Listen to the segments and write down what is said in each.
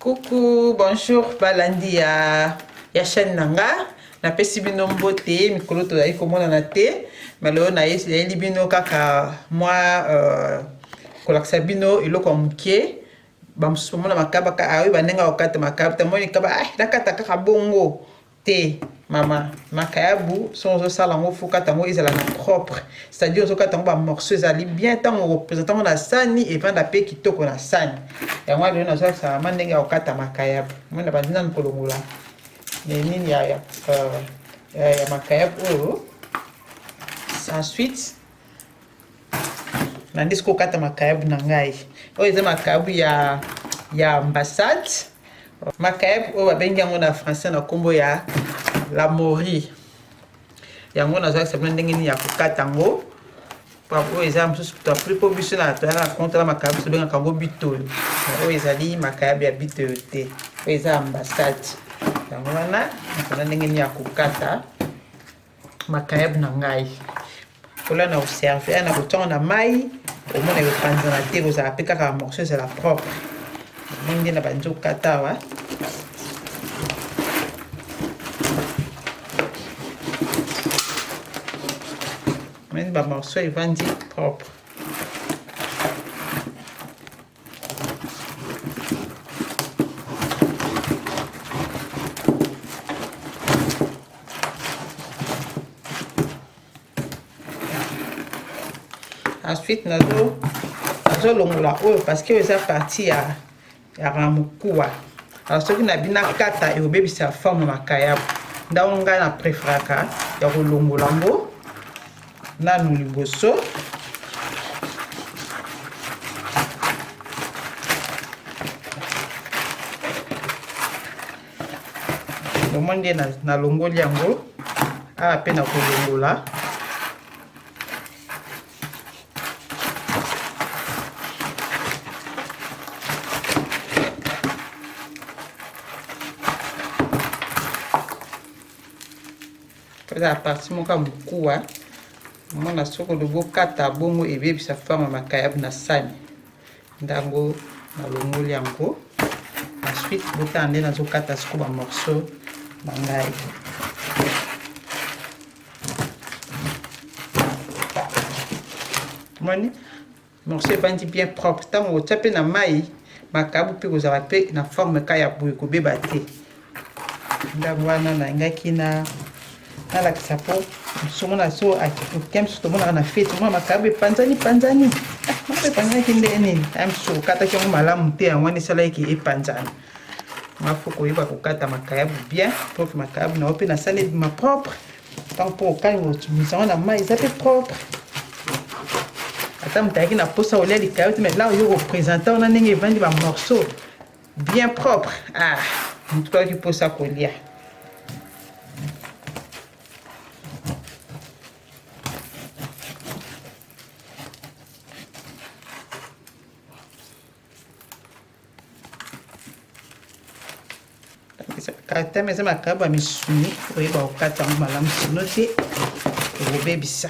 Coucou, bonjour balandi ya, ya chaîne na nga napesi bino mbote mikolo tozali komonana te malelo nayeli bino kaka mwa euh, kolakisa bino eloko ya moke bamosusu bamona makaba oyo bandenga kokata makaba tamoni kaba ah, nakata kaka bongo te mama makayabu soki ozosala yango fo kata yango ezala na propre c'est-à-dire ozokata yango bamorceau ezali bien ntango okopresente yango na sani evanda mpe kitoko na sani yango wana lelo nazolakisa mama ndenge ya kokata makayabu mona bandi nanu kolongola nini ya, ya, euh, ya, ya makayabu oyo ensuite nandisi kokata makayabu na ngai oyo eza makayabu ya ya ambassade makayabu oyo babengi yango na français na nkombo ya la mori yango nazalakisa bino ndenge nini ya kokata yango oyo eza mosusu plus mpo biso na toyaka na konte na makayabu tobengaka yango bitoyo oyo ezali makayabu ya bitoyo te oyo eza ambassade yango wana nakoza ndenge nini ya kokata makayab na ngai kola na oserve na kotongo na mai omona ekopanzana te ekozala mpe kaka bamorceau ezala propre ndenge na bandi okata awa mani bamorceau evandi propre ensuite nazo nazolongola oyo parceke oyo eza parti ya ya ramukuwa alors soki nabi nakata ekobebisa forme makayabu ndako ngai na preferaka ya kolongola yango nanu liboso lomoi nde nalongoli yango awa mpe nakolongola eza parti moko ya mokuwa omona soko lobokata bongo ebebisa fama makayabu na sani ndango nalongoli yango ensuite botala nde nazokata siko bamorceau na ngai moni morceau evandi bien propre ntango kotya mpe na mai makabu mpe kozala mpe na forme ka ya boye kobeba te ndako wana nalingaki na nalakisa mpo somo na so oke mosusu tomonaka na feti omona makabu epanzani panzani ah, makabu epanzanaki ndenge nini aye mosusu okataki yango malamu te yango wana esalaki epanzana mafo koyeba kokata makayabu bien prof makayabu na yo mpe nasala ebima propre ntango mpo okangi kotungisa yango na mai eza mpe propre ata moto ayaki na mposa olia likayo te mai la oyo kopresente wana ndenge evandi bamorceau bien propre ah moto koyaki mposa kolia kata meza makabo ya misuni oyeba kokata yango malamu sino te okobebisa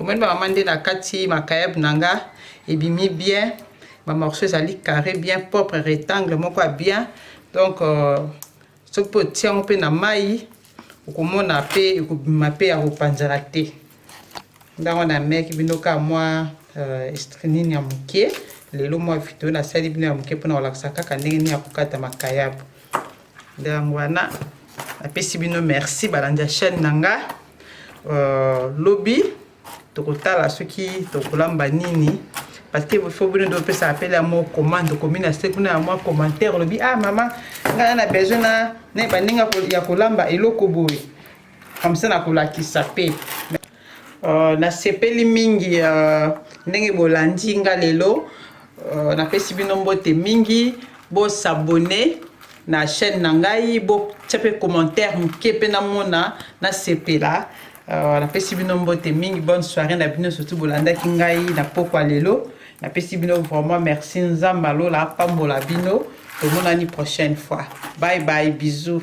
omoni bamama nde na kati makayab na nga ebimi bien bamorceau ezali carré bien propre rectangle moko ya bien donc euh, soki mpe otia yango mpe na mai okomona mpe ekobima mpe ya kopanzana te ndango na meki bino ka mwa euh, estrinini ya moke lelo mwa video nasali bino ya moke mpona kolakisa kaka ndenge nini ya kokata makayabu nde yango wana napesi bino merci balandi ya chaîne na nga uh, lobi tokotala soki tokolamba nini parce que faut bino nde opesaka mpele ya mwa commande okomi na se kuna ya mwa commentaire olobi ah mama ngai na besoin na bandenge ya kolamba eloko boye comme ça nakolakisa mpe Uh, nasepeli mingi uh, ndenge bolandi nga lelo uh, napesi bino mbote mingi bosabone na chaîne na ngai botya mpe commentaire moke mpe namona nasepela uh, napesi bino mbote mingi bonne soirée na bino surtout bolandaki ngai na pokwa lelo napesi bino vraiment merci nzambe alola apambola bino tomonani prochaine fois bye bye bisous